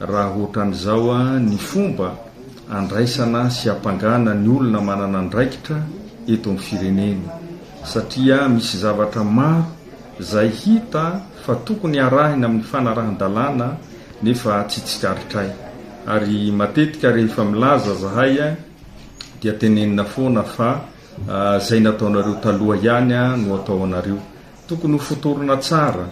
Raha ohatran'izao ny fomba andraisana sy ampangana ny olona manana andraikitra eto amin'ny firenena satria misy zavatra maro izay hita fa tokony arahina amin'ny fanarahan-dalàna nefa tsy tsikaritray ary matetika rehefa milaza zahay dia tenenina foana fa izay nataonareo taloha ihany no atao anareo. Tokony ho fotorina tsara.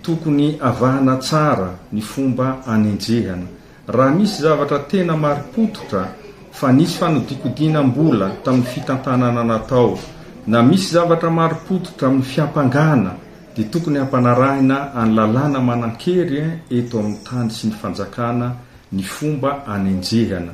Tokony avahana tsara ny fomba anenjehana. Raha misy zavatra tena marim-pototra fa nisy fanodikodinam-bola tamin'ny fitantanana natao, na misy zavatra marim-pototra amin'ny fiampangana, dia tokony hampanarahina an'ny lalàna manan-kery eto amin'ny tany sy ny fanjakana ny fomba anenjehana.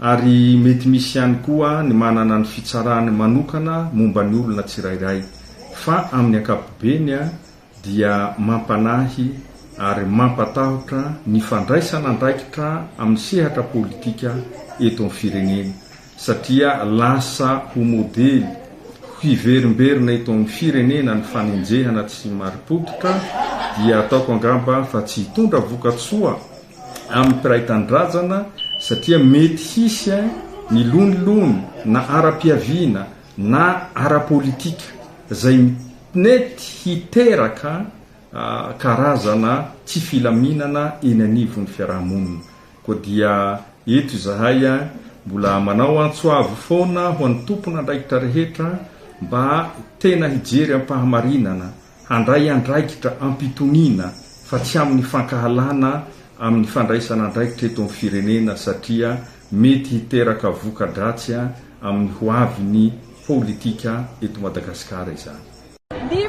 Ary mety misy ihany koa ny manana ny fitsarany manokana momba ny olona tsirairay, fa amin'ny ankapobeny dia mampanahy ary mampatahotra ny fandraisana andraikitra amin'ny sehatra politika eto amin'ny firenena, satria lasa ho modely hiverimberina eto amin'ny firenena ny fanenjehana tsy marim-pototra, dia ataoko angamba fa tsy hitondra vokatsoa amin'ny mpiray tanindrazana satria mety hisy ny lonilony na ara-piaviana na ara-politika izay mety hiteraka karazana tsy filaminana eny anivon'ny fiaraha-monina. Koa dia eto izahay mbola manao antso avo foana ho an'ny tompon'andraikitra rehetra mba tena hijery am-pahamarinana Handray andraikitra am-pitoniana fa tsy amin'ny fankahalana amin'ny fandraisana andraikitra eto amin'ny firenena satria mety hiteraka voka-dratsy amin'ny ho avin'ny politika eto Madagasikara izany. Ny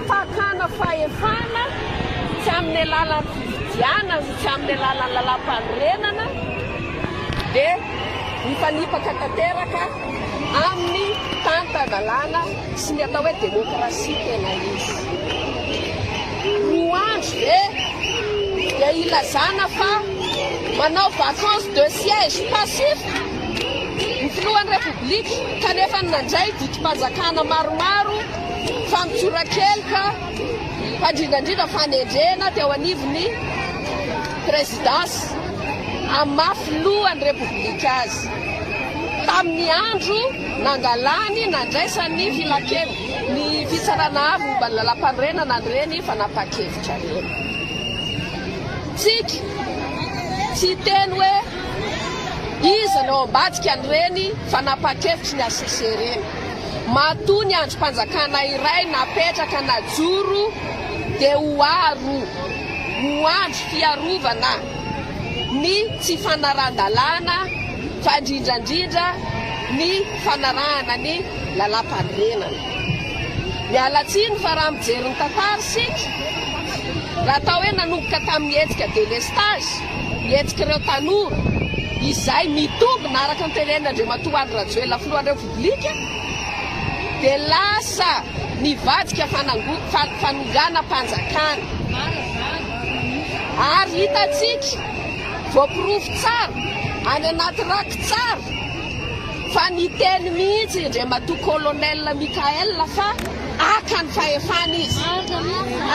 fakana fahefana tsy amin'ny alalan'ny fifidianana sy tsy amin'ny alalan'ny lalàmpanorenana dia mifanipaka tanteraka amin'ny tantan-dalàna. sy ny atao hoe demokrasia tena izy. Ny andro ve dia ilazana fa manao vacance de siège passif ny filohan'ny Repoblika kanefa nandray didim-panjakana maromaro fa mitsorakeloka fa indrindraindrindra fanendrena teo anivon'ny Présidence amin'ny maha filohan'ny Repoblika azy tamin'ny andro Nangalany, nandraisany ny filankeviny ny Fitsarana Avo momba ny Lalàmpanorenana an'ireny fanapahan-kevitra ireny. Tsiky, tsy hiteny hoe iza no ao ambadika an'ireny fanapahan-kevitry ny HCC ireny. Matoa ny andrim-panjakana iray napetraka najoro dia ho aro ho andro fiarovana ny tsy fanarahan-dalàna, fa indrindra indrindra ny fanarahana ny lalàmpanorenana. Miala tsiny fa raha mijery ny tantara isika, raha atao hoe nanomboka tamin'ny hetsika delestage, ny hetsik'ireo tanora izay mitombina araka ny tenenin'Andriamatoa Andry Rajoelina Filohan'ny Repoblika, dia lasa nivadika fanango-fanonganam-panjakana. Ary hitantsika. voaporofo tsara any anaty raky tsara fa niteny mihitsy Andriamatoa Colonel Michael fa haka ny fahefana izy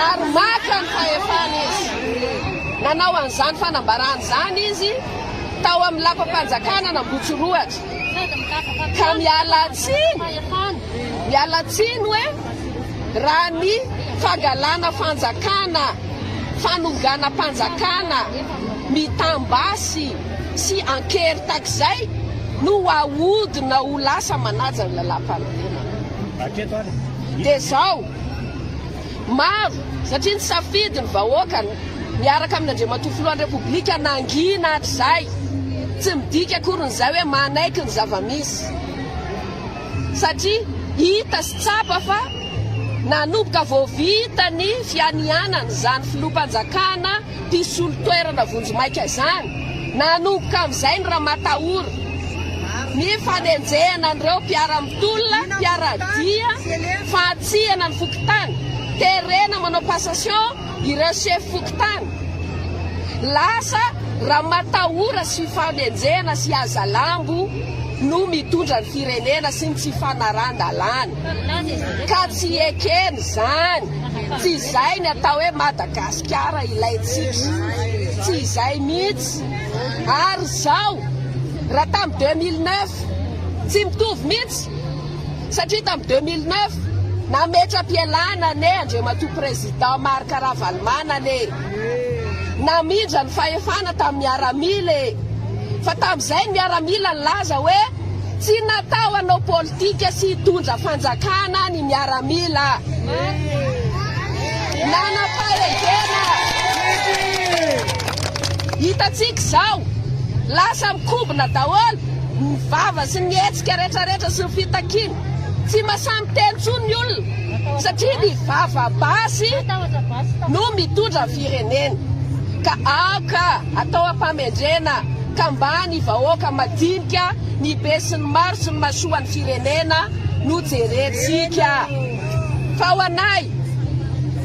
ary maka ny fahefana izy. Nanao an'izany fanambarana izany izy tao amin'ny lapam-panjakana an'Ambohitsorohatra ka miala tsiny, miala tsiny hoe. raha ny fangalana fanjakana, fanonganam-panjakana, mitam-basy sy an-kery takizay no ahodina ho lasa manaja ny lalàmpanorenana. Dia izao, maro, satria nisafidy ny vahoaka miaraka amin' Andriamatoa Filohan'ny Repoblika nangina hatrizay, tsy midika akory ny izay hoe manaiky ny zava-misy. satria hita sy tsapa fa nanomboka vao vita ny fianianana izany filoham-panjakana mpisolo toerana vonjimaika izany, nanomboka amin'izay ny ramatahora, ny fanenjehana an'ireo mpiara-mitolona, mpiara-dia, fantsihana ny fokontany, terena manao passation, Ireo sefo fokontany, lasa ramatahora sy fanenjehana sy hazalambo no mitondra ny firenena sy ny tsy fanarahan-dalàna. Ka tsy ekena izany. Tsy izay ny atao hoe Madagasikara ilaintsika. Tsy izay mihitsy. Ary izao, raha tamin'ny 2009, tsy mitovy mihitsy. satria tamin'ny deux mille neuf nametra-pialana anie Andriamatoa Président Marc Ravalomanana e! namindra ny fahefana tamin'ny miaramila e! fa tamin'izay ny miaramila nilaza hoe tsy natao hanao politika sy hitondra fanjakana ny miaramila nanam-pahedena hitantsika izao lasa mikobona daholo Ny vava sy ny hetsika retraretra sy ny fitakiana. Tsy masamiteny intsony ny olona satria ny vava basy no mitondra ny firenena. Ka aoka atao ampamendrena ka mba ny vahoaka madinika, ny besinimaro sy ny masoan'ny firenena no jerentsika. Fa ho anay,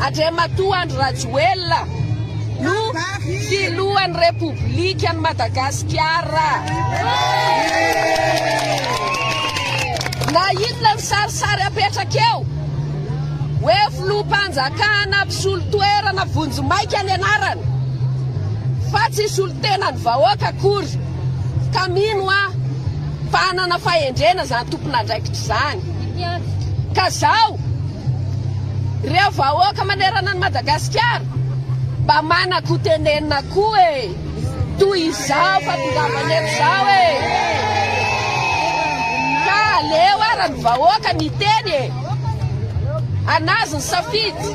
Andriamatoa Andry Rajoelina, no filohan'ny Repoblikan'i Madagasikara. Na inona ny sarisary apetraka eo hoe filoham-panjakana mpisolo toerana vonjimaika ny anarany fa tsy solontenan'ny vahoaka akory ka mino aho fa hanana fahendrena izany tompon'andraikitra izany ka zao Reo vahoaka manerana an'i Madagasikara mba manak ho tenenina koa e! Toy izao fa tongavana eto zao e! Ka aleo ara ny vahoaka niteny e! Anazy ny safidy!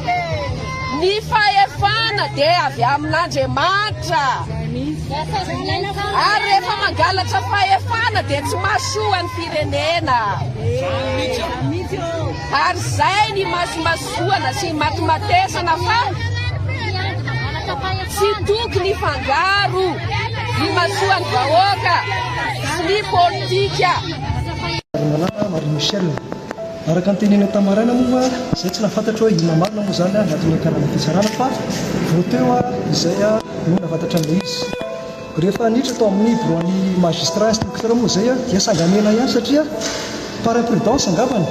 Ny fahefana de avy amin'Andriamanitra! Ary rehefa mangalatra fahefana de tsy mahasoa ny firenena! Ary zay ny imasomasoana sy imatomatesana fa tsy tokony hifangaro ny imasoan'ny vahoaka sy ny politika. Ravalomanana Marie Michelle, araka ny teneniny tamin'ny maraina moa izay tsy nahafantatro hoe inona marina moa izany anatin'ny karana fitsarana fa vao teo izay no nahafantatran'ilay izy. Rehefa haniditra tao amin'ny biraon'ny magistrat instructeur moa izay dia sangan'ela ihany satria par imprudence angambany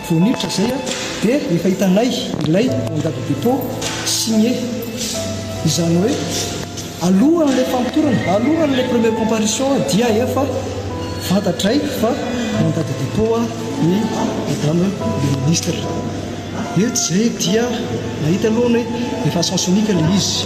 vao niditra izay dia efa hitanay ilay mandat de dépôt signé. Izany hoe alohan'ilay famotorana, alohan'ilay première comparution dia efa fantatray fa mandat de dépôt ny madame le ministre. Dia izay dia nahita aloha ny hoe efa sens unique ilay izy.